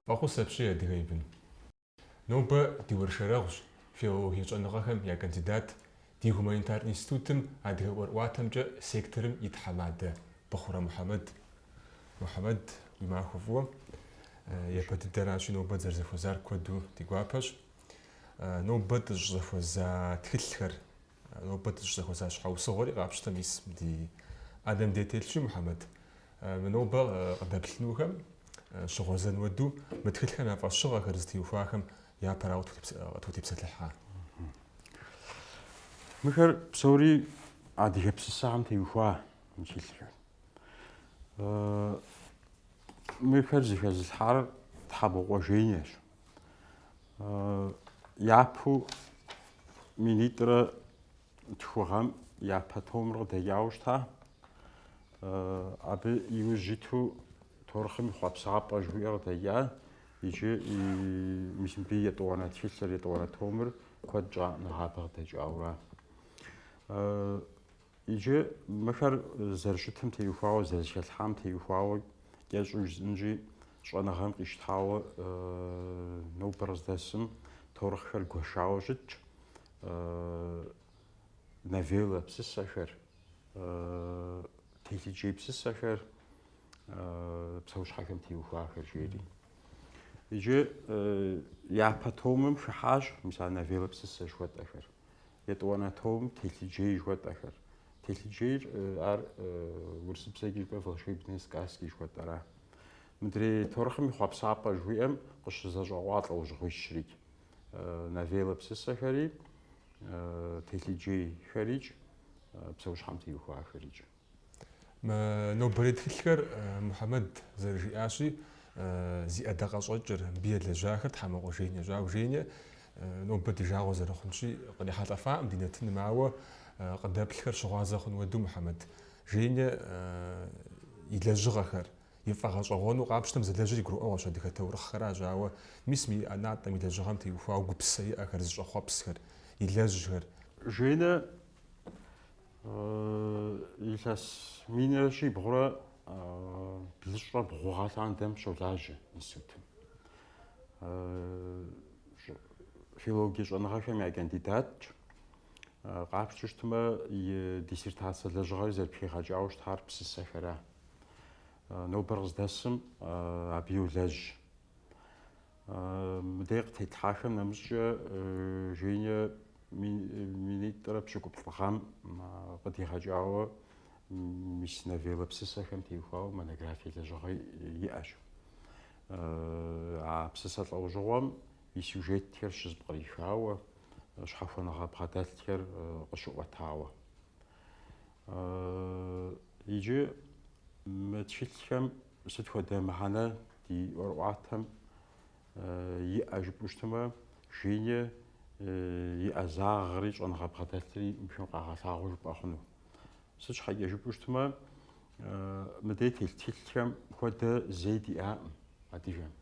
Фӏэхъус апщий, адыгэ и бын. Нобэ ди уэршэрэгъущ филологие щӏэныгъэхэм я кандидат, Ди гуманитар институтым адыгэ ӏуэрыӏуатэмкӏэ секторым и тхьэмадэ Быхъурэ Мухьэмэд. Мухьэмэд, уи махуэ фӏыуэ. Япэ дыдэращи, нобэ дызэрызэхуэзар куэду ди гуапэщ. Нобэ дыщӏызэхуэза тхылъхэр, нобэ дыщӏызэхуэза щхьэусыгъуэри къапщтэ мис ди ӏэнэм дей телъщи, Мухьэмэд. Мы нобэ къыдэплъынухэм щыгъуэзэн уэду мы тхылъхэм я фӏэщыгъэхэр зытеухуахэм Япэрауэ тхутепсэлъыхь. Мыхэр псори адыгэ псысэхэм теухуа тхылъхэр. Мыхэр зыхэзылъхьар Тхьэмокъуэ Женящ. Япэу минитӏрэ тху гъэм япэ томыр къыдэкӏауэ щыта. Абы иужь иту таурыхъым и хъуэпсапӏэ жыхуиӏэр къыдэкӏа. Иджы мис мыбы етӏуанэ тхылъыр, етӏуанэ томыр куэд щӏа нэгъабэ къыдэкӏауэра. Иджы мыхэр зэрыщытым теухуауэ, зэрызэхэлъхьам теухуауэ кӏэщӏу жысӏынщи, щӏэныгъэм къищтауэ нобэр къыздэсым таурыхъхэр гуэшауэ щытщ, новеллэ псысэхэр, телъыджей псысэхэр, псэущхьэхэм теухуахэр жери. Иджы япэ томым хыхьащ мис а новеллэ псысэ жыхуэтӏэхэр. Етӏуанэ томым телъыджей жыхуэтӏэхэр. Телъыджейр ар урысыбзэкӏи жыпӏэ волшебные сказки жыхуэтӏэра. Мыдрей таурыхъым и хъуэпсапӏэ жыхуиӏэм къыщызэщӏэкъуа лӏэужьыгъуищрикӏ. Новеллэ псысэхэри, телъыджейхэрикӏ, псэущхьэм теухуахэрикӏ. Нобэрей тхылъхэр Мухьэмэд зэрыжиӏащи, зи ӏэдакъэщӏэкӏыр, мыбы елэжьахэр Тхьэмокъуэ Женящ, ауэ Женя нобэ ди жагъуэ зэрыхъунщи къырихьэлӏэфакъым ди нэтыным, ауэ къыдэплъхэр щыгъуазэ хъун уэду Мухьэмэд Женя и лэжьыгъэхэр, и фӏэгъэщӏэгъуэну къапщтэм зэлэжьыри гурыӏуэгъуэщ адыгэ таурыхъхэращ, ауэ мис мы и ӏэнатӏэм и лэжьыгъэм теухуауэ гупсысэ иӏэхэр, зыщӏэхъуэпсхэр, илэжьхэр. Женя Илъэс минрэ щибгъурэ блыщӏрэ бгъу гъэ лъандэм щолажьэ институтым. Филологие щӏэныгъэхэм я кандидатщ. Къапщту щытмэ, и диссертацэ лэжьыгъэри зэрыпхигъэкӏауэ щытар псысэхэра. Нобэр къыздэсым абы йолэжь. Мыдей къытетлъхьахэм нэмыщӏкӏэ Женя минитӏрэ пщыкӏуплӏ гъэм къыдигъэкӏауэ мис новеллэ псысэхэм теухуауэ монографие лэжьыгъэ иӏэщ. А псысэ лӏэужьыгъуэм и сюжетхэр щызэпкърихауэ, щхьэхуэныгъэ бгъэдэлъхэр къыщыӏуэтауэ. Иджы мы тхылъхэм сыт хуэдэ мыхьэнэ ди ӏуэрыӏуатэм иӏэ жыпӏэу щытмэ, Жени и ӏэзагъри щӏэныгъэ бгъэдэлъри мыбыхэм къагъэлъагъуэ жыпӏэ хъуну. Сыт щхьэкӏэ жыпӏэу щытмэ, мыдей телъ тхылъхэм хуэдэ зэи диӏакъым адыгэм.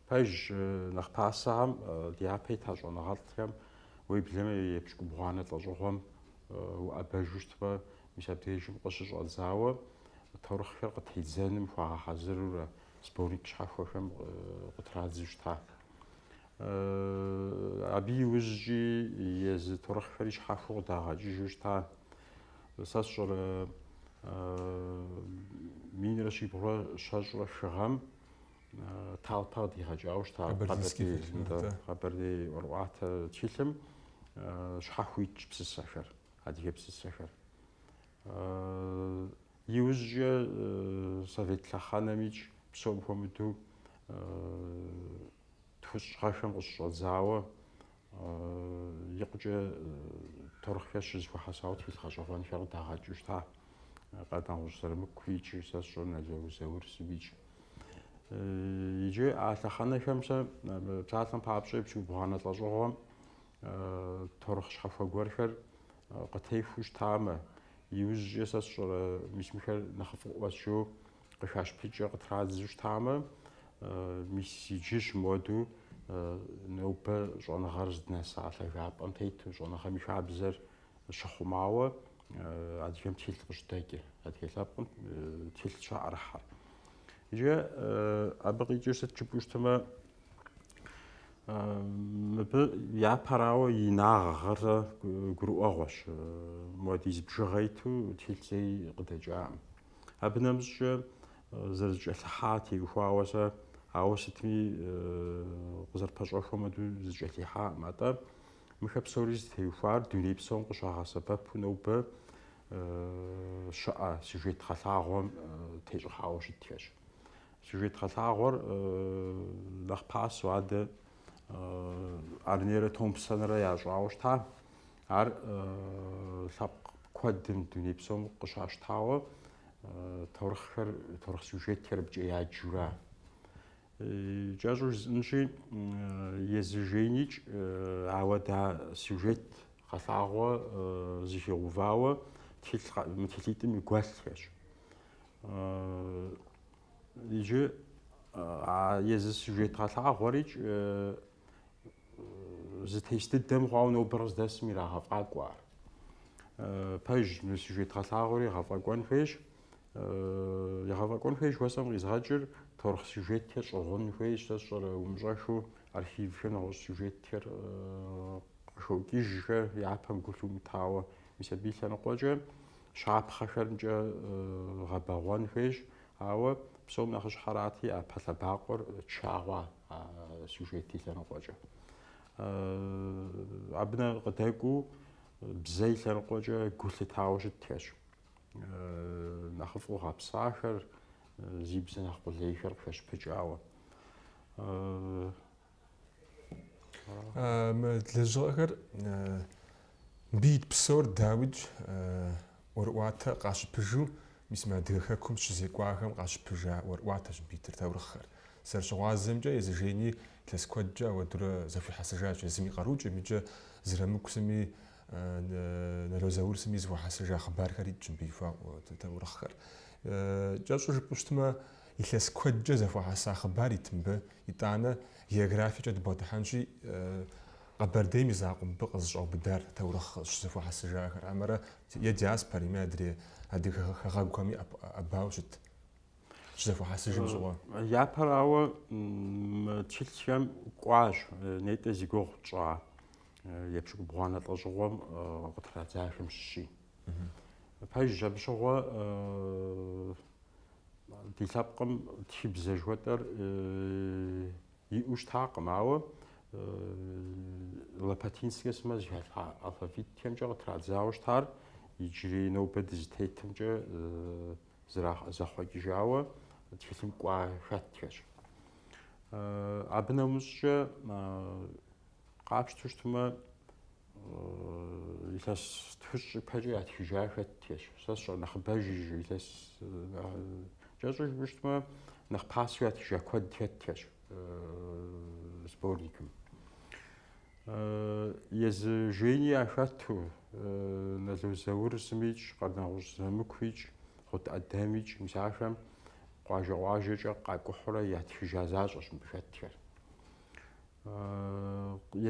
Пэжщ, нэхъ пасэхэм дяпэ ита щӏэныгъэлӏхэм уеблэмэ епщыкӏубгъуанэ лӏэщӏыгъуэм уӏэбэжу щытмэ, мис абдежым къыщыщӏэдзауэ таурыхъхэр къытедзэным хуагъэхьэзырурэ сборник щхьэхуэхэм къытрадзу щыта. Абы иужькӏи езы таурыхъхэри щхьэхуэу къыдагъэкӏыжу щыта. Сэ сщӏэрэ минрэ щибгъурэ щэщӏрэ хы гъэм Талпа къыдигъэкӏауэ щыта Къэбэрдей ӏуэрыӏуатэ тхылъым щхьэхуэу итщ псысэхэр, адыгэ псысэхэр. Иужькӏэ совет лъэхъэнэмикӏ псом хуэмыдэу тхущӏ гъэхэм къыщыщӏэдзауэ Икъукӏэ таурыхъхэр щызэхуэхьэсауэ тхылъ гъэщӏэгъуэнхэр къыдагъэкӏыу щыта. Къардэнгъущӏ Зырамыку икӏи сэ сщӏэрэ Нало Заур сымикӏ. Иджы а лъэхъэнэхэм сэ псалъэм папщӏэ епщыкӏубгъуанэ лӏэщӏыгъуэм таурыхъ щхьэхуэ гуэрхэр къытехуэу щытамэ, иужькӏэ сэ сщӏэрэ мис мыхэр нэхъыфӏыӏуэщ жаӏэу Къыхащыпыкӏыу къытрадзу щытамэ, мис иджыщ моду нобэ щӏэныгъэр здынэса лъагапӏэм тету щӏэныгъэм и хабзэр щыхъумауэ адыгэм тхылъ къыщыдэкӏыр, адыгэ лъэпкъым тхылъ щаӏэрыхьэр. Иджы абы къикӏыр сыт жыпӏэу щытымэ, мыбы япэрауэ инагъыр гурыӏуэгъуэщ, муэдиз бжыгъэ иту тхылъ зэи къыдэкӏаӏым. Абы нэмыщӏкӏэ зэрызэкӏэлъыхьам теухуауэ сэ, ауэ сытми къызэрыпэщӏэхуэм хуэдэу зэкӏэлъихьакъым. Атӏэ мыхэ псори зытеухуар дуней псом къыщагъэсэбэпу нобэ щыӏэ сюжет гъэлъагъуэм тещӏыхьауэ щытхэщ. Сюжет гъэлъагъуэр нэхъ пасэу адэ Аарнерэ Томпсонрэ ящӏауэ щыта. Ар лъэпкъ куэдым, дуней псом къыщащтауэ, таурыхъхэр, таурыхъ сюжетхэр абыкӏэ яджурэ. Кӏэщӏу жысӏэнщи, езы Женикӏ, ауэдэ сюжет гъэлъагъуэ зыхигъувауэ мы тхылъитӏым и гуэлъхэщ. Иджы а езы сюжет гъэлъагъуэрикӏ зэтес дыдэ мыхъуауэ нобэр къыздэсым ирагъэфӏакӏуэ ар. Пэж мы сюжет гъэлъагъуэри егъэфӏэкӏуэн хуейщ. Егъэфӏэкӏуэн хуейщ жыхуэсӏэм къизгъэкӏыр таурыхъ сюжетхэр щӏыгъун хуейщ, сэ сщӏэрэ умыщӏэхыу архивхэм нэгъуэщӏ сюжетхэр къыхокӏыжхэр япэм гу лъумытауэ. Мис абы и лъэныкъуэкӏэ щапхъэхэмкӏэ гъэбэгъуэн хуейщ, ауэ псом нэхъыщхьэрати, япэ лъэбакъуэр ча хъуа а сюжет и лъэныкъуэкӏэ. Абы нэ къыдэкӏуу бзэ и лъэныкъуэкӏэ гу лъытауэ щытхэщ. Нэхъыфӏу гъэпсахэр, зи бзэ нэхъ къулейхэр къыхэщпыкӏауэ. Мы лэжьыгъэхэр мыбы ит псор дауикӏ ӏуэрыӏуатэ къащыпыжу, мис мы Адыгэ Хэкум щызекӏуахэм къащыпыжа ӏуэрыӏуатэщ мыбы итыр таурыхъхэр. Зэрыщыгъуазэмкӏэ, езы Жени илъэс куэдкӏэ ауэдурэ зэхуихьэсыжащ, езым и къарукӏэми икӏи Зырамыку сыми, Нало Заур сыми зэхуахьэсыжа хъыбархэр итщ мыбы ихуа таурыхъхэр. Кӏэщӏу жыпӏэу щытмэ, илъэс куэдкӏэ зэхуэхьэса хъыбар ит мыбы, итӏанэ географиекӏэ дыбгъэдыхьэнщи, Къэбэрдейм и закъуэ мыбы къызэщӏаубыдар таурыхъ щызэхуахьэсыжахэр хьэмэрэ е диаспорэми, адрей адыгэ хэгъэгухэми ӏэбауэ щыт щызэхуахьэсыжым щыгъуэ? Япэрауэ, мы тхылъхэм кӏуащ нетӏэ зи гугъу тщӏа епщыкӏубгъуанэ лӏэщӏыгъуэм къытрадзахэм щыщи. Пэжщ абы щыгъуэ ди лъэпкъым тхыбзэ жыхуэтӏэр Иӏэу щытакъым, ауэ Лопатинскэ сымэ зэхалъхьа алфавитхэмкӏэ къытрадзауэ щытар иджырей нобэ дызытетымкӏэ зэхъуэкӏыжауэ тхылъым кӏуа хэтхэщ. Абы нэмыщӏкӏэ къапщтэу щытмэ, Илъэс тхущӏ ипэкӏэ ятхыжа хэтхэщ. Сэ сщӏэрэ нэхъыбэжыж илъэс кӏэщӏу жыпӏэу щытмэ, нэхъ пасэу ятхыжа куэд хэтхэщ сборникым. Езы Жени яхэту, Нало Заур сымикӏ, Къардэнгъущӏ Зырамыкуикӏ, Гъут Ӏэдэмикӏ, мис ахэм къуажэ-къуажэкӏэ къакӏухьурэ ятхыжа защӏэщ мыбы хэтхэр.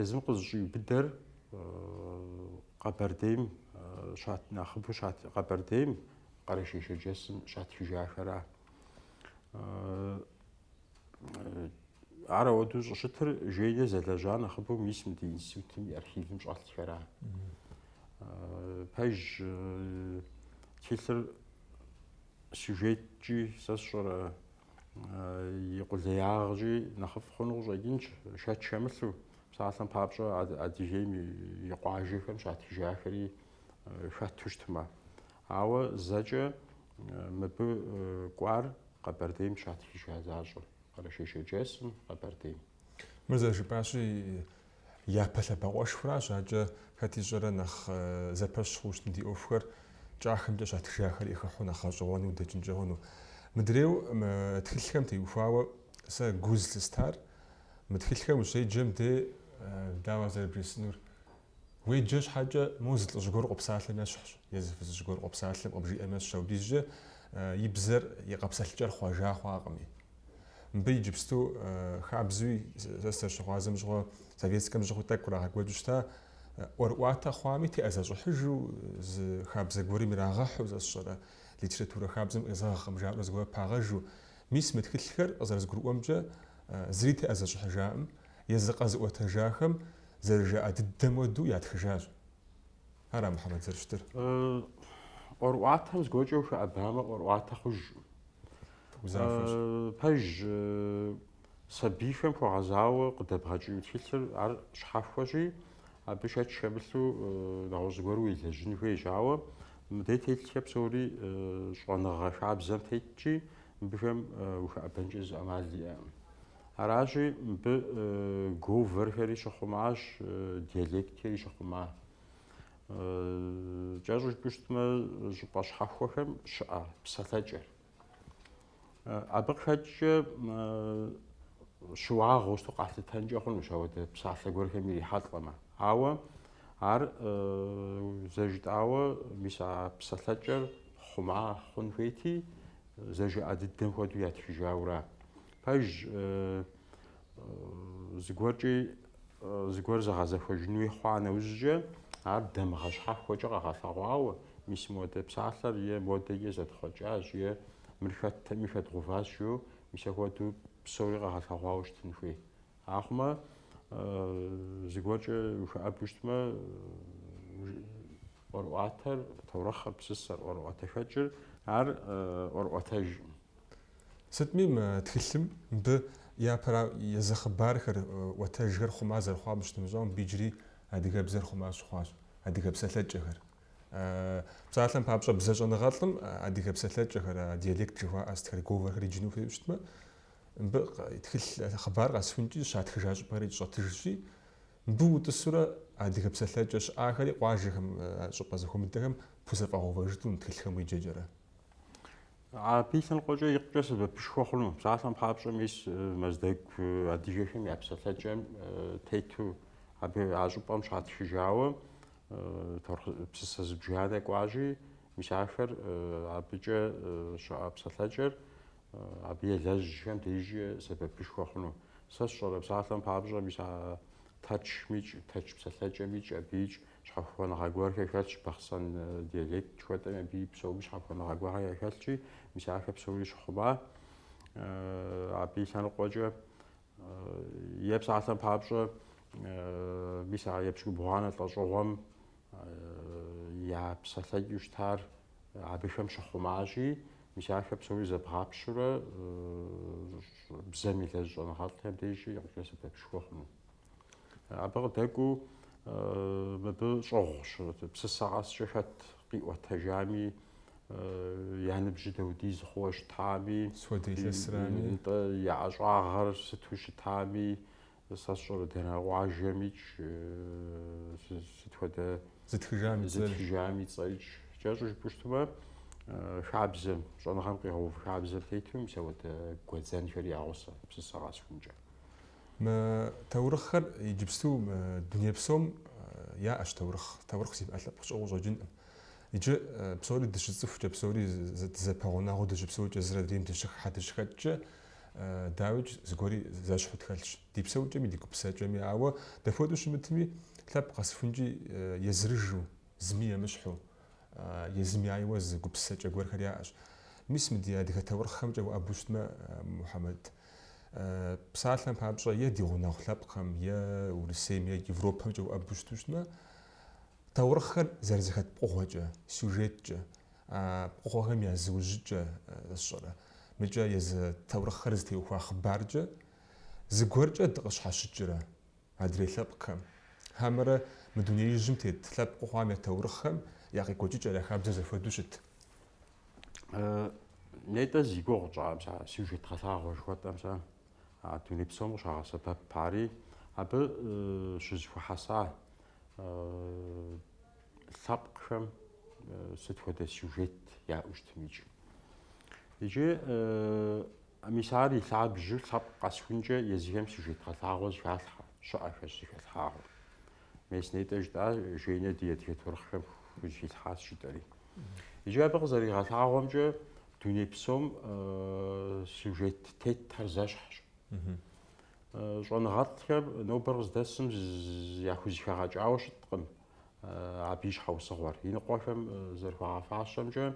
Езым къызыщӏиубыдэр Къэбэрдейм щат нэхъыбэу щат Къэбэрдейм Къэрэшей-Шэрджэсым щатхыжахэра. Ар ауэдэу щӏыщытыр Женя зэлэжьа нэхъыбэу мис мы ди институтым и архивым щӏэлъхэра. Пэж тхылъыр сюжеткӏи сэ сщӏэрэ и къулеягъкӏи нэхъыфӏ хъуну къыщӏэкӏынщ, шэч хэмылъу. Псалъэм папщӏэ, Адыгейм и къуажэхэм щатхыжахэри хэту щытмэ. Ауэ зэкӏэ мыбы кӏуар Къэбэрдейм щатхыжа защӏэ, Къэрэшей-Шэрджэсым, Къэбэрдейм. Мыр зэрыжыпӏащи, Япэ лъэбакъуэшхуращ, адэкӏэ хэт ищӏэрэ нэхъ зэпэщ хъуу щытмэ ди ӏуэхухэр кӏахэмкӏэ щатхыжахэри хыхьу нэхъ гъэщӏэгъуэну дэкӏынкӏэ хъуну. Мыдрейу мы тхылъхэм теухуауэ сэ гу зылъыстар, мы тхылъхэм ущеджэм де дауэ зэрыбжесӏэнур уеджэ щхьэкӏэ, мо зы лӏыжь гуэр къопсалъэм ещхьщ, е зы фызыжь гуэр къопсалъэм къыбжиӏэм ещхьщ, апхуэдизкӏэ и бзэр, и къэпсэлъыкӏэр хъуэжа хъуакъыми. Мыбы иджыпсту хабзэуи сэ сызэрыщыгъуазэм щыгъуэ советскэм щыгъуи тӏэкӏу кърагъэкӏуэкӏыу щыта, ӏуэрыӏуатэ хъуами теӏэзэщӏыхьыжу, зы хабзэ гуэрым ирагъэхьу сэ сщӏэрэ литературэ хабзэм къезэгъкъым жаӏэурэ зыгуэр пагъэжу. Мис мы тхылъхэр, къызэрызгурыӏуэмкӏэ, зыри теӏэзэщӏыхьыжаӏым, езы къэзыӏуэтэжахэм зэрыжаӏэ дыдэм хуэдэу ятхыжащ. Ара Мухьэмэд зэрыщытыр? ӏуэрыӏуатэм зыгуэркӏэ ухэӏэбамэ ӏуэрыӏуатэ хъужкъым. Узафэщ. Пэж сабийхэм хуэгъэзауэ къыдэбгъэкӏыну тхылъыр ар щхьэхуэщи, абы шэч хэмылъу нэгъуэщӏ гуэру уелэжьын хуейщ. Ауэ мыдей телъхэр псори щӏэныгъэ хабзэм тетщи, мыбыхэм ухэӏэбэнкӏэ зы ӏэмал иӏэкъым. Аращи, мыбы говорхэри щыхъумащ, диалектхэри щыхъума. Кӏэщӏу жыпӏэу щытмэ, щӏыпӏэ щхьэхуэхэм щыӏэ псалъэкӏэр. Абы къыхэкӏкӏэ щыуагъэу щыту къалъытэнкӏэ хъунущ ауэдэ псалъэ гуэрхэм ирихьэлӏэмэ. Ауэ ар зэжытӏауэ мис а псалъэкӏэр хъума хъун хуейти, зэжыӏэ дыдэм хуэдэу ятхыжаура. Пэж Зыгуэркӏи зыгуэр зэгъэзэхуэжын хуей хъуа нэужькӏэ, ар дамыгъэ щхьэхуэкӏэ къэгъэлъэгъуауэ, мис модэ псалъэр е модэкӏэ зэтхъуэкӏащ, е мыр хэттэкъыми хэдгъэуващ жиӏэу, мис ахуэдэу псори къэгъэлъэгъуауэ щытын хуей. Ахъумэ, зыгуэркӏэ ухэӏэбу щытмэ, ӏуэрыӏуатэр, таурыхъыр, псысэр, ӏуэрыӏуатэхэкӏыр, ар ӏуэрыӏуатэжкъым. Сытми, мы тхылъым мыбы япэра езы хъыбархэр, ӏуэтэжхэр хъума зэрыхъуам щытымыщӏэу, мыбы иджыри адыгэбзэр хъума щыхъуащ, адыгэ псэлъэкӏэхэр. Псалъэм папщӏэ, бзэщӏэныгъэлӏым адыгэ псэлъэкӏэхэр, диалект жыхуаӏэ сытхэр, говорхэр иджыну хуейуэ щытмэ, мыбы тхылъ хъыбар къэсхункӏи, щатхыжа щӏыпӏэри щӏэтыжщи, мыбы утӏысурэ адыгэ псэлъэкӏэ щыӏахэри къуажэхэм, щӏыпӏэ зэхуэмыдэхэм пхузэфӏэгъэувэжыну мы тхылъхэм уеджэкӏэрэ. Абы и лъэныкъуэкӏэ икъукӏэ сэбэпышхуэ хъуну. Псалъэм папщӏэ мис э, Мэздэгу э, адыгэхэм я псэлъэкӏэм э, тету абы а щӏыпӏэм щатхыжауэ псысэ зыбжанэ кӏуащи, мис ахэр абыкӏэ щыӏэ псэлъэкӏэр абы елэжьхэм дежкӏэ сэбэпышхуэ хъуну. Сэ сщӏэрэ псалъэм папщӏэ мис а Тэрчмикӏ, тэрч псэлъэкӏэмикӏ, абыикӏ щхьэхуэныгъэ гуэрхэр хэлъщ, бахъсэн диалект жыхуэтӏэми абыи псоми щхьэхуэныгъэ гуэрхэр яхэлъщи, мис ахэр псори щыхъума, абы и лъэныкъуэкӏэ е псалъэм папщӏэ, мис а епщыкӏубгъуанэ лӏэщӏыгъуэм я псэлъэкӏэу щытар абыхэм щыхъумащи, мис ахэр псори зэбгъапщэурэ бзэм елэжь щӏэныгъэлӏхэм дежкӏи икъукӏэ сэбэпышхуэ хъуну. Абы къыдэкӏуу мыбы щӏыгъущ, псысэ къэскӏэ хэт къиӏуэтэжами, я ныбжьы дауэдиз хъууэ щытами, нтӏэ я ӏэщӏагъэр сыту щытами, сэ сщӏэрэ дэнэ къуажэмикӏ, сыт хуэдэ зытхыжам и цӏэрикӏ, кӏэщӏу жыпӏэу щытмэ, хабзэм, щӏэныгъэм къигъэув хабзэм тету мис ауэдэ гуэдзэнхэр ягъусэ псысэ къэсхункӏэ. Мы таурыхъхэр иджыпсту дуней псом яӏэщ таурыхъ. Таурыхъ зимыӏэ лъэпкъ щыӏэу щӏэкӏынкъым. Иджы псори дыщыцӏыхукӏэ, псори дызэпэгъунэгъуу дыщыпсэукӏэ, зыр адрейм дыщыхыхьэ, дыщыхэкӏкӏэ, дауикӏ, зыгуэри зэщхьу тхэлъщ, ди псэукӏэми, ди гупсэкӏэми. Ауэ дапхуэдэу щымытми, лъэпкъ къэсхункӏи, езырыжу, зыми емыщхьу. Езым яйуэ зы гупсэкӏэ гуэрхэр яӏэщ. Мис мы ди адыгэ таурыхъхэмкӏэ уӏэбэу щытмэ, Мухьэмэд, псалъэм папщӏэ, е ди гъунэгъу лъэпкъхэм, е Урысейм, е Европэмкӏэ уӏэбэу щыту щытмэ, таурыхъхэр зэрызэхэт пкъыгъуэкӏэ, сюжеткӏэ, а пкъыгъуэхэм я зыужьыкӏэ сщӏэрэ. Мыкӏэ езы таурыхъхэр зытеухуа хъыбаркӏэ зыгуэркӏэ дыкъыщхьэщыкӏрэ? Адрей лъэпкъхэм, хьэмэрэ мы дунеижьым тет лъэпкъыу хъуам я таурыхъхэм я къекӏуэкӏыкӏэр я хабзэр зэхуэдэу щыт? Нетӏэ зи гугъу тщӏа мис а сюжет гъэлъагъуэ жыхуэтӏэ мис а дуней псом къыщагъэсэбэп ари, абы щызэхуэхьэса лъэпкъхэм сыт хуэдэ сюжет яӏэу щытымикӏ. Иджы мис ар и лъабжьу лъэпкъ къэсхункӏэ езыхэм сюжет гъэлъагъуэ зыхалъхьэ щыӏэхэщ зыхэлъхьагъуэ. Мес нетӏэ жытӏа Женя ди адыгэ таурыхъхэм хузыхилъхьащ жытӏэри. Иджы абы къызэригъэлъагъуэмкӏэ дуней псом сюжет тетхэр зэщхьщ. Щӏэныгъэлӏхэм нобэр къыздэсым яхузыхэгъэкӏауэ щыткъым. абы и щхьэусыгъуэр. Иныкъуэхэм зэрыхуагъэфащэмкӏэ,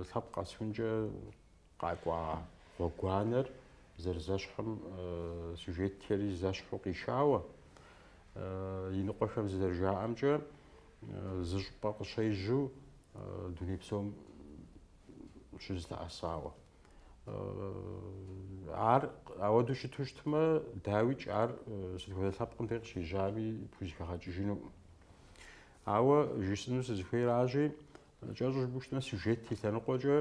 лъэпкъ къэсхункӏэ къакӏуа гъуэгуанэр зэрызэщхьым сюжетхэри зэщхьу къишауэ, иныкъуэхэм зызэрыжаӏэмкӏэ, зы щӏыпӏэ къыщежьу дуней псом щызэлъэӏэсауэ. ар ауэдэу щыту щытмэ, дауикӏ ар сыт хуэдэ лъэпкъым дей къыщежьами пхузэхэгъэкӏыжынукъым. Ауэ жысӏэну сызыхуейращи, кӏэщӏу жыпӏэу щытмэ, сюжет и лъэныкъуэкӏэ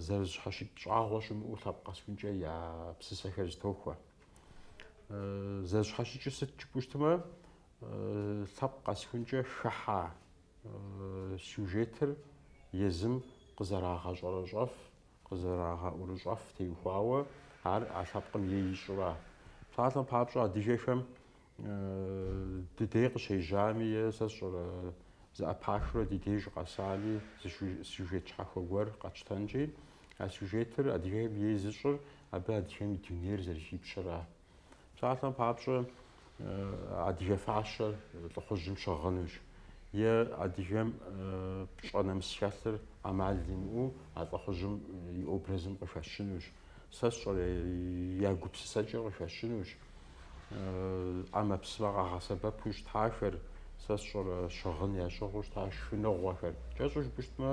зэрызщхьэщыкӏ щӏагъуэ щымыӏэу лъэпкъ къэсхункӏэ я псысэхэр зытохуэ. Зэрызщхьэщыкӏыр сыт жыпӏэу щытмэ, лъэпкъ къэсхункӏэ хыхьа сюжетыр езым къызэрагъэщӏэрэщӏэф, къызэрагъэӏурыщӏэф теухуауэ, ар а лъэпкъым ей ищӏра. Псалъэм папщӏэ, адыгэхэм ди дей къыщежьами е сэ сщӏэрэ зэӏэпахыурэ ди деж къэсами зы сюжет щхьэхуэ гуэр къэтщтэнкӏи, а сюжетыр адыгэхэм ей зыщӏыр абы адыгэм и дунейр зэрыхипщэра. Псалъэм папщӏэ, адыгэ фащэр лӏыхъужьым щыгъынущ. Е адыгэм пщӏэ нэмыс хэлъыр ӏэмал имыӏэу а лӏыхъужьым и образым къыхэщынущ. Сэ сщӏэрэ, я гупсысэкӏэр къыхэщынущ. ӏэмэпсымэ къагъэсэбэпу щытахэр, сэ сщӏэрэ, щыгъын ящыгъыу щыта шхыныгъуэхэр. Кӏэщӏу жыпӏэу щытмэ,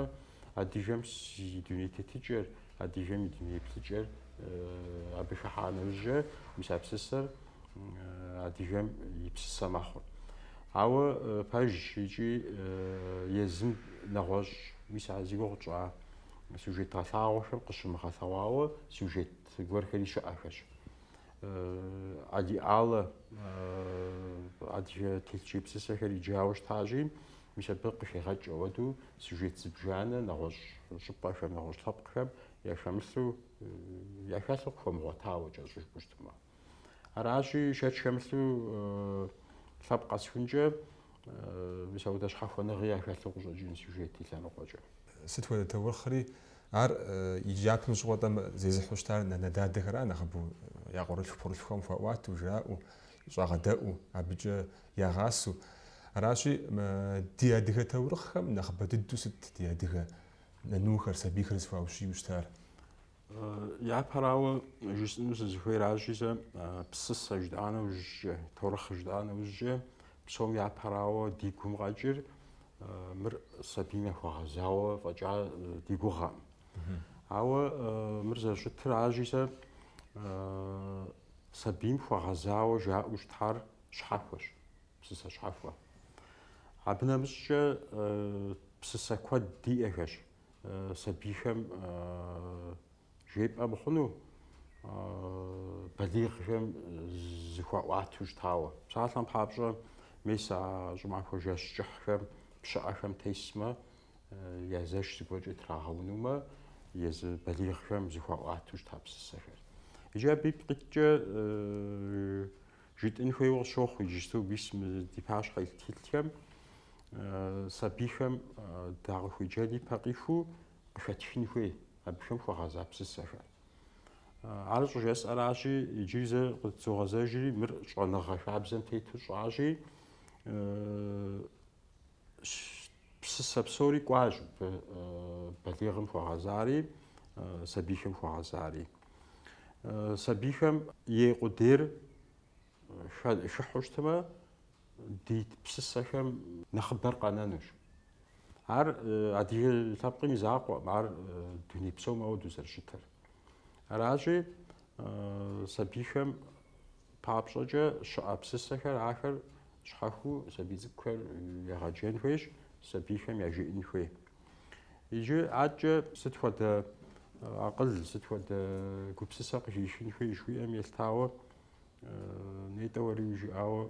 адыгэм и дуней тетыкӏэр, Адыгэм и дуней еплъыкӏэр абы хыхьа нэужькӏэ мис а псысэр адыгэм и псысэ мэхъур. Ауэ пэжщ икӏи езым нэгъуэщӏ, мис а зи гугъу тщӏа сюжет гъэлъагъуэхэм къыщымыгъэлъэгъуауэ сюжет гуэрхэри щыӏэхэщ. Алий Аллэ адыгэ телъыджей псысэхэр иджауэ щытащи, Мис абы къыхегъэкӏ ауэдэу сюжет зыбжанэ нэгъуэщӏ щӏыпӏэхэм, нэгъуэщӏ лъэпкъхэм яхэмылъу, яхэлъу къыхуэмыгъуэтауэ кӏэщӏу жыпӏэу щытмэ. Аращи, шэч хэмылъу лъэпкъ къэсхункӏэ мис ауэдэ щхьэхуэныгъи яхэлъу къыщӏэкӏын сюжет и лъэныкъуэкӏэ. Сыт хуэдэ таурыхъри, ар иджы япэм щыгъуэ тӏэ зезыхьэу щытар нанэ-дадэхэра нэхъыбэу я къуэрылъху-пхъурылъхухэм хуаӏуатэу, жраӏэу, щӏагъэдэӏуу, абыкӏэ ягъасэу. Аращи, ди адыгэ таурыхъхэм нэхъыбэ дыдэу сыт ди адыгэ нанухэр, сабийхэр зыхуаущию щытар? Япэрауэ жысӏэну сызыхуейращи, сэ псысэ жытӏа нэужькӏэ, таурыхъ жытӏа нэужькӏэ, псом япэрауэ ди гум къэкӏыр мыр сабийм яхуэгъэзауэ фӏэкӏа ди гугъэкъым. Ауэ мыр зэрыщытыр аращи, сэ Сабийм хуэгъэзауэ жаӏэу щытар щхьэхуэщ, псысэ щхьэхуэ. Абы нэмыщӏкӏэ псысэ куэд диӏэхэщ сабийхэм жепӏэ мыхъуну, балигъхэм зыхуаӏуатэу щытауэ. Псалъэм папщӏэ, мис а щӏымахуэ жэщ кӏыхьхэм пщыӏэхэм тесмэ, я зэш зыгуэркӏэ трагъэунумэ, езы балигъхэм зыхуаӏуатэу щыта псысэхэр. Иджы абы ипкъ иткӏэ жытӏын хуейуэ къысщохъу иджыпсту мис мы ди пащхьэ илъ тхылъхэм, сабийхэм дакъыхуеджэн ипэ къиху къыхэтхын хуей абыхэм хуэгъэза псысэхэр. Ар щӏыжысӏэращи, иджыри зэ къытызогъэзэжри, мыр щӏэныгъэ хабзэм тету щӏащи, Псысэ псори кӏуащ балигъым хуэгъэзари, сабийхэм хуэгъэзари. Сабийхэм ей къудейр хыхьу щытмэ, ди псысэхэм нэхъыбэр къэнэнущ. Ар адыгэ лъэпкъым и закъуэм, ар дуней псом ауэдэу зэрыщытыр. Аращи, сабийхэм Папщӏэкӏэ щыӏэ псысэхэр ахэр щхьэхуэу сабий цӏыкӏухэр егъэджэн хуейщ, сабийхэм яжеӏэн хуей. Иджы адэкӏэ сыт хуэдэ акъыл, сыт хуэдэ гупсысэ къыхишын хуей жыхуиӏэм елъытауэ нетӏэ уэри жиӏауэ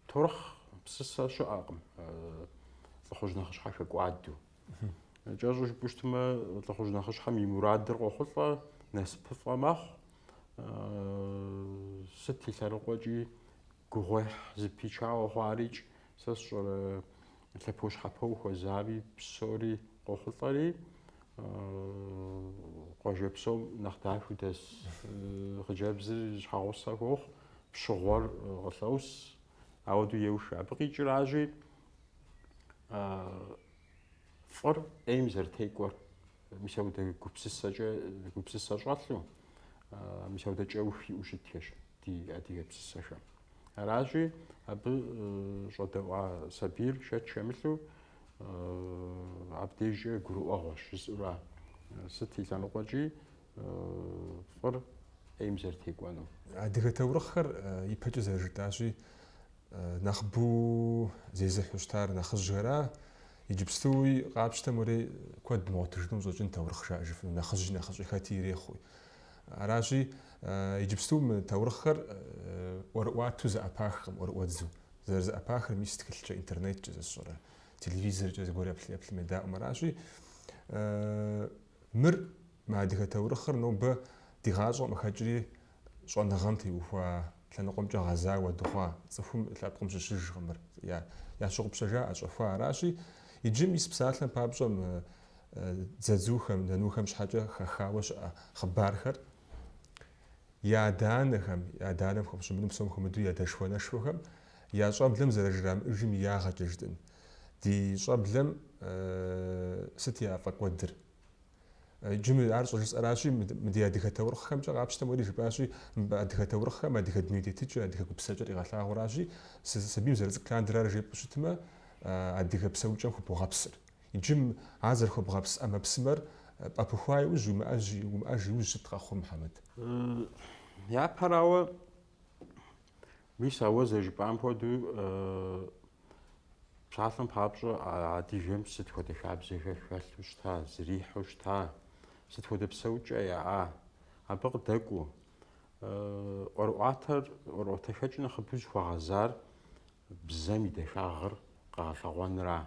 таурыхъ псысэ щыӏэкъым лӏыхъужь нэхъыщхьэ хэкӏуадэу. Кӏэщӏу жыпӏэу щытмэ, лӏыхъужь нэхъыщхьэм и мурадыр къохъулӏэ, насыпыфӏэ мэхъу. Сыт и лъэныкъуэкӏи гугъуехь зыпичауэ хъуарикӏ, сэ сщӏэрэ лъэпощхьэпэу хуэзами псори къохъулӏэри, къуажэ псом нэхъ дахэу дэс хъыджэбзыр щхьэгъусэ хуохъу, пщыгъуэр къылъос, ауэдэу еух. Абы къикӏыращи, фӏыр ӏейм зэрытекӏуэр, мис аудэ гупсысэкӏэ, гупсысэ щӏэлъу, мис аудэ кӏэух иӏэу щытхэщ ди адыгэ псысэхэм. Аращи, абы щӏэдэӏуа сабийр шэч хэмылъу абдежкӏэ гурыӏуэгъуэщ жысӏэура. Сыт и лъэныкъуэкӏи, фӏыр ӏейм зэрытекӏуэну. Адыгэ таурыхъхэр ипэкӏэ зэрыжытӏащи, нэхъбу зезыхьу щытар нэхъыжьхэра, иджыпстуи къапщтэм уэри куэд мыгъуэтыжыну къыщӏэкӏын таурыхъ жаӏэжыфыну, нэхъыжьи нэхъыщӏи хэти ирехъуи. Аращи, иджыпсту мы таурыхъхэр ӏуэрыӏуату зэӏэпахкъым, ӏуэрыӏуэдзу. Зэрызэӏэпахыр мис тхылъкӏэ, интернеткӏэ сэ сщӏэрэ, телевизоркӏэ зыгуэр еплъым едаӏуэм аращи, Мыр, мы адыгэ таурыхъыр нобэ ди гъащӏэм къыхэкӏри щӏэныгъэм теухуа лъэныкъуэмкӏэ гъэзауэ дыхъуа цӏыхум лъэпкъым щыщыжкъым, мыр ящыгъупщэжа, ӏэщӏэхуа аращи, иджы мис псалъэм папщӏэ мы дзадзухэм, нанухэм щхьэкӏэ хэхауэ щыӏэ хъыбархэр я адэ-анэхэм, я адэ-анэм хэпщӏыфыну псом хуэмыдэу я дэшхуэ-нэшхуэхэм я щӏэблэм зэрыжрамыӏыжым и ягъэкӏэ жытӏын. Ди щӏэблэм сыт яфӏэкӏуэдыр? Иджы мы ар щӏыжысӏэращи, мы ди адыгэ таурыхъхэмкӏэ къапщтэм уэри жыпӏащи, адыгэ таурыхъхэм адыгэ дуней тетыкӏэ, адыгэ гупсэкӏэр къигъэлъагъуэращи, сабийм зэрыцӏыкӏ лъандэрэ ар жепӏэу щытмэ, адыгэ псэукӏэм хуэбогъэпсыр. Иджым ар зэрыхуэбгъэпс ӏэмэпсымэр пӏэпыхуа иужь, уимыӏэж, уимыӏэж иужь сыт къэхъур Мухьэмэд? Япэрауэ, мис а уэ зэрыжыпӏам хуэдэу, псалъэм папщӏэ адыгэм сыт хуэдэ хабзэхэр хэлъу щыта, зрихьу щыта, сыт хуэдэ псэукӏэ яӏа, абы къыдэкӏуэу. ӏуэрыӏуатэр, ӏуэрыӏуатэхэкӏ нэхъыбэу зыхуэгъэзар Бзэм и дахагъыр къэгъэлъэгъуэнра?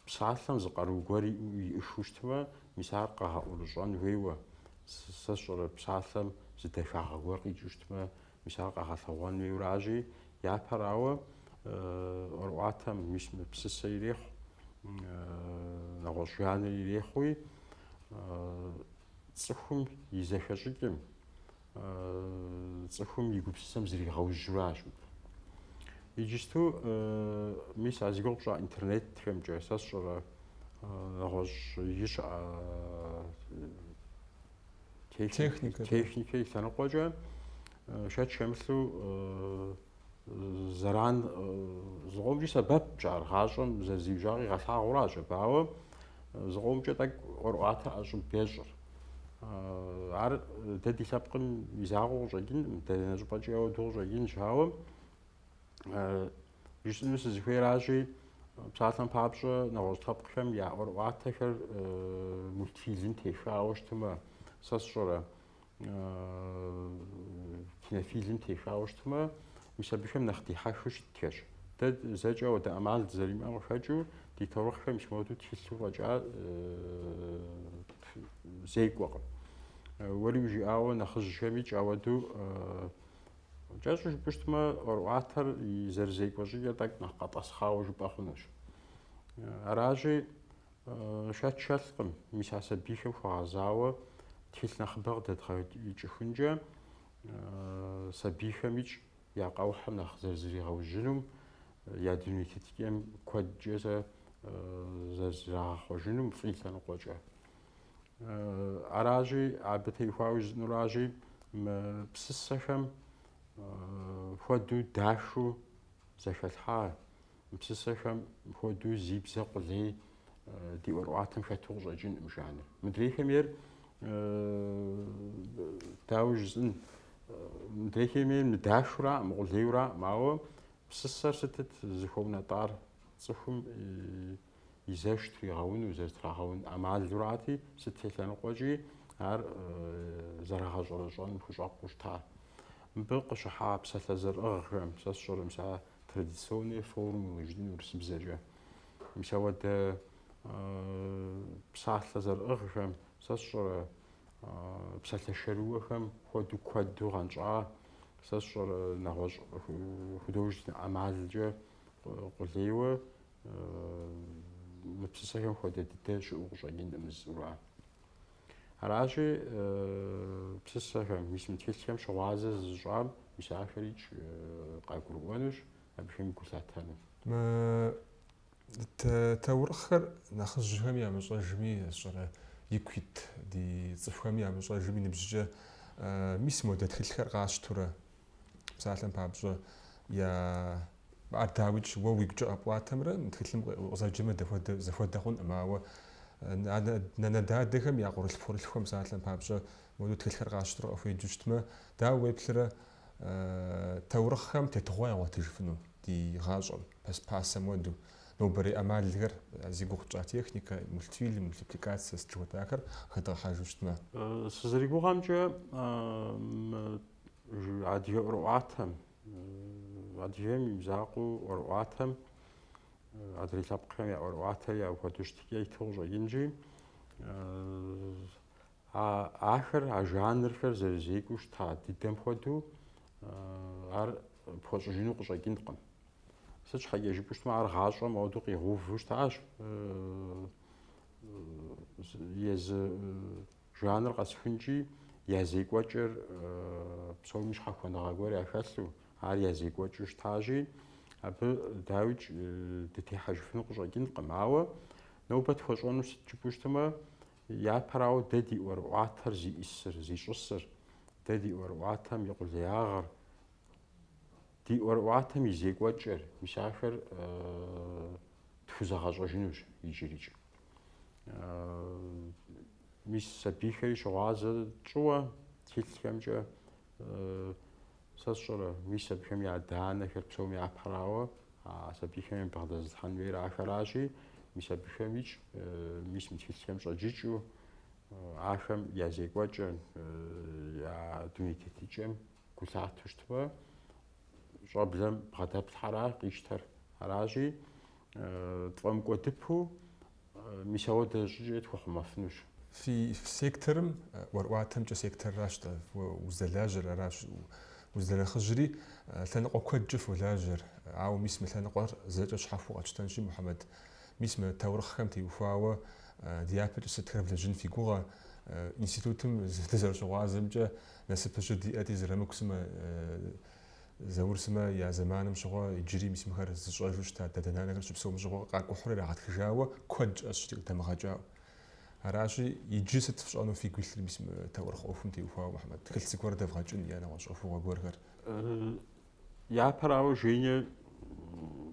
Псалъэм зы къару гуэр иӏыгъыу щытмэ, мис ар къэгъэӏурыщӏэн хуейуэ. Сэ сщӏэрэ псалъэм зы дахагъэ гуэр къикӏыу щытмэ, мис ар къэгъэлъэгъуэн хуейуращи, япэрауэ, ӏуэрыӏуатэм мис мы псысэ ирехъу, нэгъуэщӏ жанр ирехъуи, цӏыхум и зэхэщӏыкӏым, Цӏыхум и гупсысэм зригъэужьуращ. Иджысту мис а зи гугъу пщӏа интернетхэмкӏэ сэ сщӏэрэ нэгъуэщӏи щыӏэ техникэ и лъэныкъуэкӏэ шэч хэмылъу Зэран зыкъомкӏи сэбэпщ ар, гъащӏэм зэрызиужьа къигъэлъагъуращ абы, ауэ зыкъомкӏэ тӏэкӏу ӏуэрыӏуатэр ӏэщӏыб ещӏыр. Ар дэ ди лъэпкъым и закъуэу къыщӏэкӏынкъым, дэнэ щӏыпӏэкӏи ауэдэу къыщӏэкӏынщ, ауэ жысӏэну сызыхуейращи, псалъэм папщӏэ нэгъуэщӏ лъэпкъхэм я ӏуэрыӏуатэхэр мультфильм техауэ щытымэ, сэ сщӏэрэ? кинофильм техауэ щытмэ, мис абыхэм нэхъ дихьэхыу щытхэщ. Дэ зэкӏэ ауэдэ ӏэмал дызэримыӏэм къыхэкӏыу, ди таурыхъхэм мис модэу тхылъу фӏэкӏа зекӏуэкъым. Уэри уи жыӏауэ нэхъыжьхэми кӏ ауэду кӏэщӏу жыпӏэу щытмэ, ӏуэрыӏуатэр и зэрызекӏуэ щӏыкӏэр тӏэкӏу нэхъ къэтӏэсхъауэ жыпӏэ хъунущ. Аращи, Шэч хэлъкъым, мис а сабийхэм хуэгъэзауэ тхылъ нэхъыбэ къыдэдгъэкӏыхункӏэ сабийхэм икӏ я къэухьым нэхъ зэрызригъэужьынум, я дуней тетыкӏэм куэдкӏэ зэ зэрызрагъэхъуэжынум фӏы и лъэныкъуэкӏэ. Аращи, абы теухуауэ жызӏынуращи, мы псысэхэм хуэдэу дахыу зэхэлъхьа Мы псысэхэм хуэдэу зи бзэ къулей ди ӏуэрыӏуатэм хэту къыщӏэкӏынӏым жанр. Мыдрейхэм ейр дауэ жысӏын, мыдрейхэм ейр мыдахураӏым, мыкъулейураӏым, ауэ псысэр сытыт зыхуэунэтӏар цӏыхум и зэш тригъэуну, зэрытрагъэун ӏэмалурати, сыт телъэныкъуэкӏи ар зэрагъэщӏэрэщӏэным хущӏэкъуу щыта. Мыбы къыщыхьа псалъэ зэрыӏыгъхэм сэ сщӏэрэ мис а традиционные формулы жытӏын урысыбзэкӏэ. Мис ауэдэ псалъэ зэрыӏыгъхэм сэ сщӏэрэ псалъэ шэрыуэхэм хуэдэу куэду гъэнщӏа, сэ сщӏэрэ нэгъуэщӏ художественнэ ӏэмалкӏэ къулейуэ мы псысэхэм хуэдэ дыдэ щыӏэу къыщӏэкӏынкъым жызӏура. Аращи, э, псысэхэм, мис мы тхылъхэм щыгъуазэ зызыщӏам мис ахэр икӏ э, къагурыӏуэнущ, абыхэми гу лъатэну. Таурыхъхэр нэхъыжьхэм ямыщӏэжми, сщӏэрэ ику ит ди цӏыхухэми ямыщӏэжми ныбжькӏэ э, мис модэ тхылъхэр къащтурэ, псалъэм папщӏэ, я Ар дауикӏ, уэ уи гукӏэ къэпӏуатэмрэ тхылъым укъызэджэмрэ дапхуэдэ, зэхуэдэ хъункъым, ауэ нанэ-дадэхэм я къуэрылъху-пхъурылъхухэм псалъэм папщӏэ моду тхылъхэр къащтэрэ къыхуеджэу щытмэ, дауэ уеплърэ таурыхъхэм тетыгъуэ ягъуэтыжыфыну ди гъащӏэм, пасэм хуэду? Нобэрей ӏэмалхэр, зи гугъу тщӏа техникэ, мультфильм, мультипликацэ, сыт жыхуэтӏахэр хэдгъэхьэжу щытмэ? Сызэригугъэмкӏэ, мы адыгэ ӏуэрыӏуатэм Адыгейм и мызакъуэу ӏуэрыӏуатэм, адрей лъэпкъхэм я ӏуэрыӏуатэри апхуэдэу щытыкӏэ иту къыщӏэкӏынкӏи, ахэр, а жанрхэр зэрызекӏуу щыта дыдэм хуэдэу ар пхуэщӏыжыну къыщӏэкӏынкъым. Сыт щхьэкӏэ жыпӏэу щытмэ, ар гъащӏэм ауэдэу къигъэуву щытащ езы Жанр къэсхункӏи, я зекӏуэкӏыр псоми щхьэхуэныгъэ гуэр яхэлъу, ар я зекӏуэкӏыу щытащи, абы, дауикӏ, дытехьэжыфыну къыщӏэкӏынкъым. Ауэ нобэ тхуэщӏэну сыт жыпӏэу щытмэ, япэрауэ дэ ди ӏуэрыӏуатэр зиӏисыр, зищӏысыр, дэ ди ӏуэрыӏуатэм и къулеягъыр, ди ӏуэрыӏуатэм и зекӏуэкӏыр, мис ахэр тхузэгъэщӏэжынущ иджырикӏ. Мис сабийхэри щыгъуазэ тщӏыуэ тхылъхэмкӏэ сэ сщӏэрэ, мис абыхэм я адэ-анэхэр псоми япэрауэ, а сабийхэм ябгъэдэзылъхьэн хуейр ахэращи, мис абыхэмикӏ, мис мы тхылъхэм щӏэджыкӏыу, ахэм я зекӏуэкӏэм, я дуней тетыкӏэм гу лъату щытмэ, щӏэблэм бгъэдэплъхьэра къищтэр. Аращи, тфӏэмыкӏуэдыпэу мис ауэдэ щӏыкӏэкӏэ тхухъумэфынущ. Фи секторым ӏуэрыӏуатэмкӏэ секторращ-тӏэ, уздэлажьэр аращ. Уздэнэхъыжьри, лъэныкъуэ куэдкӏэ фолажьэр. Ауэ мис мы лъэныкъуэр зэкӏэ щхьэхуэу къэтщтэнщи, Мухьэмэд, мис мы таурыхъхэм теухуауэ дяпэкӏэ сытхэр влэжьын фи гугъэ? Институтым дызэрыщыгъуазэмкӏэ Насып щыдиӏэти, Зырамыку сымэ, Заур сымэ я зэманым щыгъуэ иджыри мис мыхэр зыщӏэжу щыта дадэ-нанэхэр щыпсэум щыгъуэ къакӏухьурэ ирагъэтхыжауэ куэд щыӏэщ фи къыдэмыгъэкӏауэ. Аращи, иджы сыт фщӏэну фигу илъыр мис мы таурыхъ ӏуэхум теухуауэ, Мухьэмэд? Тхылъ цӏыкӏухэр дэвгъэкӏын е нэгъуэщӏ ӏуэхугъуэ гуэрхэр. Япэрауэ, Женя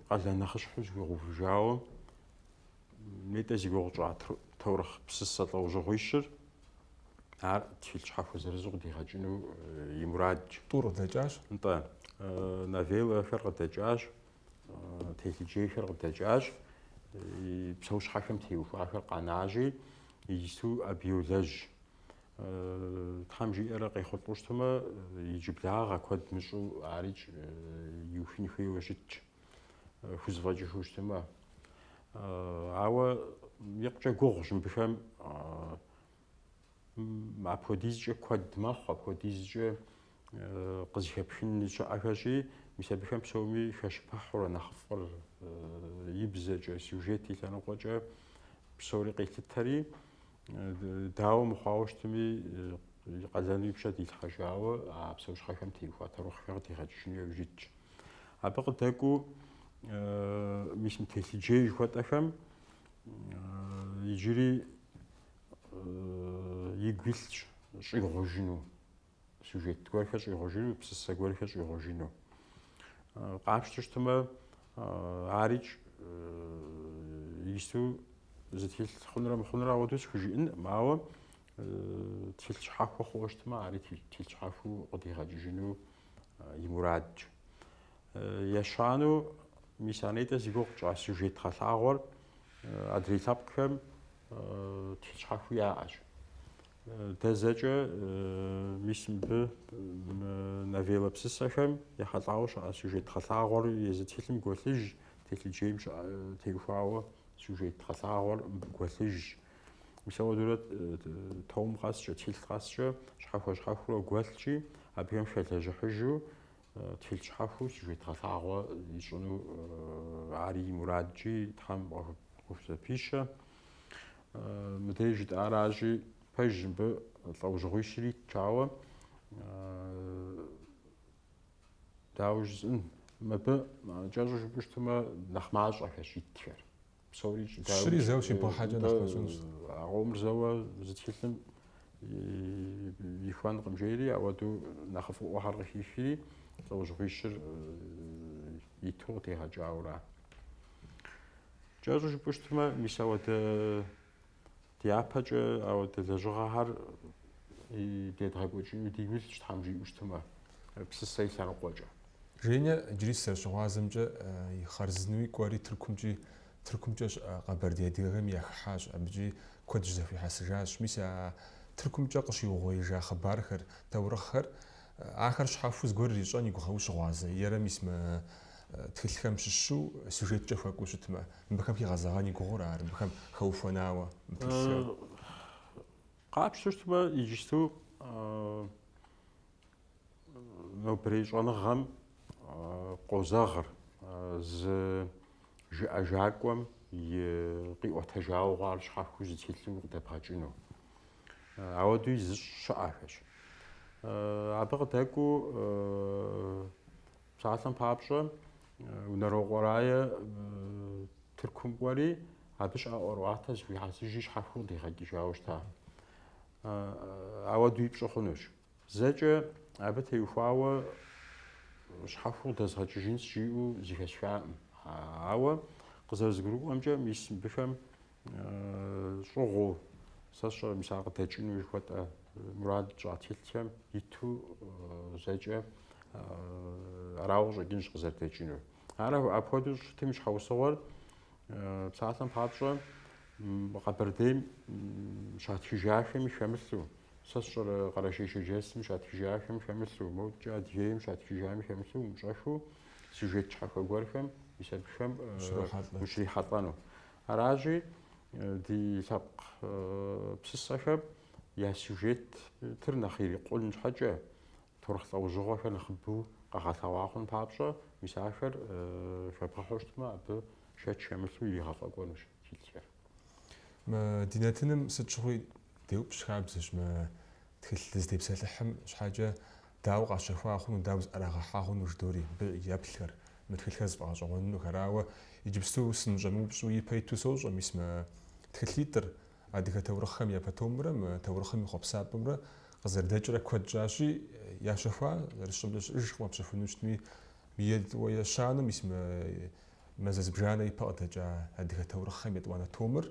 къалэн нэхъыщхьэу зыхуигъэувыжауэ Нетӏэ зи гугъу тщӏа таурыхъ псысэ лӏэужьыгъуищыр, ар тхылъ щхьэхуэ зырызу къыдигъэкӏыну и мурадщ. Тӏур къыдэкӏащ? Нтӏэ. Новеллэхэр къыдэкӏащ, телъыджейхэр къыдэкӏащ, псэущхьэхэм теухуахэр къанащи, иджысту абы йолэжь. Тхьэм жиӏэрэ къехъулӏэу щытмэ, иджыблагъэ куэд мыщӏу арикӏ иухын хуейуэ щытщ. хузэфӏэкӏыжу щытымэ. Ауэ икъукӏэ гугъущ мыбыхэм апхуэдизкӏэ куэд мэхъу, апхуэдизкӏэ къызыхэпхын щыӏэхэщи, мис абыхэм псоми хэщыпыхьурэ нэхъыфӏыр и бзэкӏэ, сюжет и лъэныкъуэкӏэ псори къилъытэри, Дауэ мыхъуауэ щытми, и къалэну и пщэ дилъхъэжауэ а псэущхьэхэм теухуа таурыхъхэр къыдигъэкӏыжыну яужь итщ. Абы къыдэкӏуэу мис мы телъыджей жыхуэтӏэхэм иджыри игу илъщ щӏигъужыну. сюжет гуэрхэр щӏигъужыну, псысэ гуэрхэр щӏигъужыну. Къапщту щытмэ, арикӏ исту зы тхылъ хъунрэ мыхъунрэ ауэдэу схужыӏэнкъым, ауэ тхылъ щхьэхуэ хъууэ щытмэ, ари тхылъ щхьэхуэу къыдигъэкӏыжыну и мурадщ. Ещанэу мис а нетӏэ зи гугъу тщӏа сюжет гъэлъагъуэр адрей лъэпкъхэм тхылъ щхьэхуэу яӏэщ. Дэ зэкӏэ, мис мыбы новеллэ псысэхэм ехьэлӏауэ щыӏэ сюжет гъэлъагъуэр езы тхылъым гуэлъыжщ, телъыджейм теухуауэ сюжет гъэлъагъуэр мыбы гуэлъыжщ. Мис ауэдурэ том къэскӏэ, тхылъ къэскӏэ щхьэхуэ-щхьэхуурэ гуэлъщи, абыхэм хэлэжьыхьыжу Тхылъ щхьэхуэу сюжет гъэлъагъуэ ищӏыну ари и мурадщи Тхьэм къыхузэпищэ. Мыдей жытӏаращи, пэжщ мыбы лӏэужьыгъуищри итщ, ауэ дауэ жысӏэн, мыбы кӏэщӏу жыпӏэу щытмэ, нэхъ мащӏэхэщ итхэр. Псори щыри зэуэ щибгъэхьэкӏэ нэхъ мэщӏэнущ. А къомыр зэуэ зы тхылъым ихуэнкъым жери, ауэдэу нэхъыфӏыӏуэхэр къыхихри, лӏэужьыгъуищыр иту къыдигъэкӏауэра. Кӏэщӏу жыпӏэу щытмэ, мис ауэдэ Дяпэкӏэ ауэдэ лэжьыгъэхэр дедгъэкӏуэкӏыну дигу илъщ, Тхьэм жиӏэу щытмэ, псысэ и лъэныкъуэкӏэ. Женя иджыри сызэрыщыгъуазэмкӏэ и хъарзынэуи кӏуэри Тыркумкӏи, Тыркумкӏэ щыӏэ къэбэрдей адыгэхэм яхыхьащ, абыкӏи куэд щызэхуихьэсыжащ. Мис а Тыркумкӏэ къыщиугъуеижа хъыбархэр, таурыхъхэр Ахэр щхьэхуэу зыгуэр ирищӏэн и гугъэу ущыгъуазэ, ерэ мис мы тхылъхэм щыщу сюжеткӏэ хуэкӏуу щытмэ, мыбыхэм хигъэзэгъэн и гугъур ар, мыбыхэм хэухуэнауэ мы тхылъхэм? Къапщтэу щытмэ, иджысту нобэрей щӏэныгъэм къозэгъыр зы жыӏэжакӏуэм и къиӏуэтэжауэ хъуар щхьэхуэу зы тхылъу къыдэбгъэкӏыну. Ауэдуи зыщӏ щыӏэхэщ. Абы къыдэкӏуу псалъэм папщӏэ Унэрокъуэ Рае Тыркум кӏуэри, абы щыӏэ ӏуэрыӏуатэ зыхуихьэсыжи щхьэхуэу къыдигъэкӏыжауэ щыта. Ауэдуи пщӏы хъунущ. Зэкӏэ абы теухуауэ щхьэхуэу къыдэзгъэкӏыжынщ жиӏэу зыхэсхакъым. Ауэ къызэрызгурыӏуэмкӏэ, мис мыбыхэм щӏыгъуу сэ сщӏэрэ мис ар къыдэкӏыну жыхуэтӏэ мурад щӏа тхылъхэм иту зэкӏэ арауэ къыщӏэкӏынщ къызэрыдэкӏынур. Ар апхуэдэу щытым и щхьэусыгъуэр псалъэм папщӏэ Къэбэрдейм щатхыжахэми хэмылъу, сэ сщӏэрэ Къэрэшей-Шэрджэсым щатхыжахэм хэмылъу, мокӏэ Адыгейм щатхыжами хэмылъу умыщӏэххэу сюжет щхьэхуэ гуэрхэм мис абыхэм ущрихьэлӏэну. Аращи, ди лъэпкъ псысэхэм я сюжетыр нэхъ ирикъун щхьэкӏэ, таурыхъ лӏэужьыгъуэхэр нэхъыбэу къэгъэлъэгъуа хъун папщӏэ, мис ахэр хэбгъэхьу щытмэ, абы шэч хэмылъу иригъэфӏэкӏуэнущ тхылъхэр. Мы ди нэтыным сыт щыгъуи деупщӏ хабзэщ мы тхылъ дызытепсэлъыхьым щхьэкӏэ. Дауэ къащэхуа хъуну, дауэ зыӏэрагъэхьа хъуну жыдоӏэри, абы еплъхэр, мы тхылъхэр зыфӏэгъэщӏэгъуэнынухэр арауэ, иджыпсту сыныщӏэмыупщӏу ипэ иту сощӏэ, мис мы тхылъитӏыр адыгэ таурыхъхэм япэ томрэ мы таурыхъым и хъуэпсапӏэмрэ къызэрыдэкӏрэ куэд щӏащи, ящэхуа зэрысщӏэмкӏэ щыӏэжкъым къэпщэхуну щытми, етӏуэ ещанэу, мис мы мазэ зыбжанэ ипэ къыдэкӏа адыгэ таурыхъхэм етӏуанэ томыр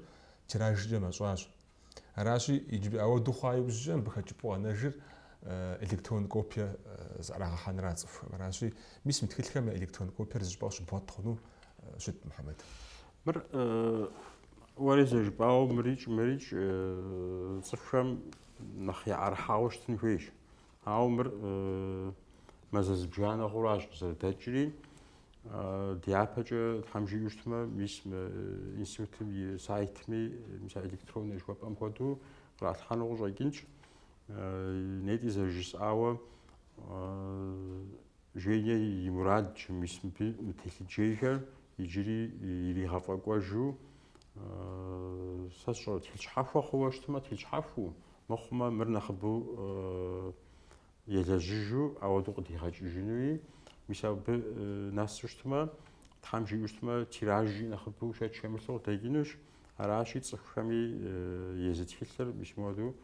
тиражкӏэ мэщӏащ. Аращи, иджыбы ауэду хъуа иужькӏэ мыбы хэкӏыпӏэу къэнэжыр электрон копие зыӏэрагъэхьэнра цӏыхухэм. Аращи, мис мы тхылъхэм я электрон копиер зыщӏыпӏэу щыбгъуэт хъуну щыт Мухьэмэд. Мыр уэри зэрыжыпӏауэ мырикӏ-мырикӏ цӏыхухэм нэхъ яӏэрыхьауэ щытын хуейщ. Ауэ мыр мазэ зыбжанэ хъуращ къызэрыдэкӏри. Дяпэкӏэ тхьэм жиӏэу щытмэ, мис мы институтым и сайтми, мис электроннэ жыхуэпӏэм хуэдэу къралъхьэну къыщӏэкӏынщ. Нетӏи зэрыжысӏауэ Женя и мурадщ, мис мы телъыджэхэр иджыри иригъэфӏэкӏуэжу сэ сщӏэрэ, тхылъ щхьэхуэ хъууэ щытмэ, тхылъ щхьэхуу, Мыхъумэ, мыр нэхъыбэу елэжьыжу ауэдэу къыдигъэкӏыжынуи, мис абы нэсу щытмэ, Тхьэм жиӏэу щытмэ, тиражи нэхъыбэу шэч хэмылъу къыдэкӏынущ. Аращи, цӏыхухэми езы тхылъыр мис муэду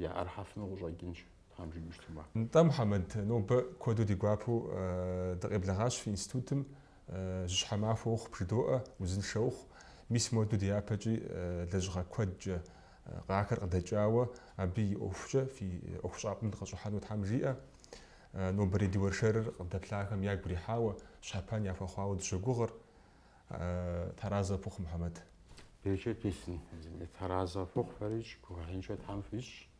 яӏэрыхьэфыну къыщӏэкӏынщ. Тхьэм жиӏэу щытмэ. Нтӏэ, Мухьэмэд, нобэ куэду ди гуапэу дыкъеблэгъащ фи институтым, жьыщхьэ махуэ ухъу, бжыдоӏэ, узыншэ ухъу. Мис моду дяпэкӏи лэжьыгъэ куэдкӏэ къахэр къыдэкӏауэ, абы и ӏуэхукӏэ фи ӏуэхущӏапӏэм дыкъыщӏыхьэну Тхьэм жиӏэ. Нобэрей ди уэршэрыр къыдэплъахэм ягу ирихьауэ, щхьэпэн яхуэхъуауэ дыщогугъыр. Тхьэразэ пхухъу, Мухьэмэд. Берычэт бесын, Тхьэразэ фхухъу, фэрикӏ, гугъуехьыншэ Тхьэм фищӏ.